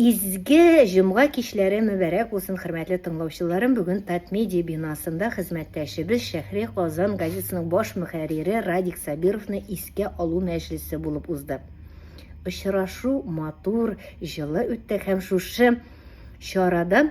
Изге җомга кичләре мөбарәк булсын, хөрмәтле тыңлаучыларым! Бүген Татмедиа бинасында хезмәттәшебез Шәһри Казан газетасының баш мөхәррире Радик Сабировны искә алу мәҗлесе булып узды. Очрашу матур, җылы үтте һәм шушы чарадан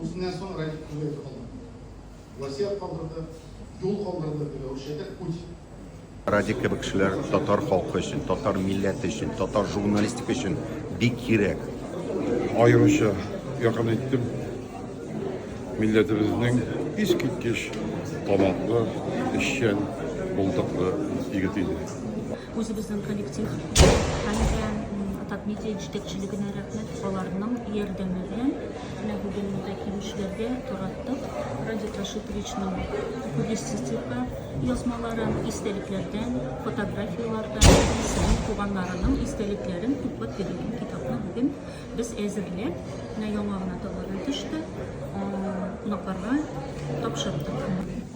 Үзеннән соң Радик Кулаев калды. Васият калдырды, юл калдырды, дип әүшәтә Куть. Радик кебек кешеләр татар халкы өчен, татар милләте өчен, татар журналистика өчен бик кирәк. Аеруча якын иттем милләтебезнең искиткеч талантлы, эшчән, булдыклы егет иде. Үзебезнең коллектив һәм дә Атап медиа җитәкчелегенә рәхмәт. Аларның ярдәме белән менә бүген монда килүчеләргә тараттык. Радик Рашитовичның публицистика язмаларын, истәлекләрдән, фотографияләрдән, сезнең туганнарының истәлекләрен туплап бирелгән китапны бүген без әзерләп, менә яңа гына товардан төште, кунакларга тапшырдык.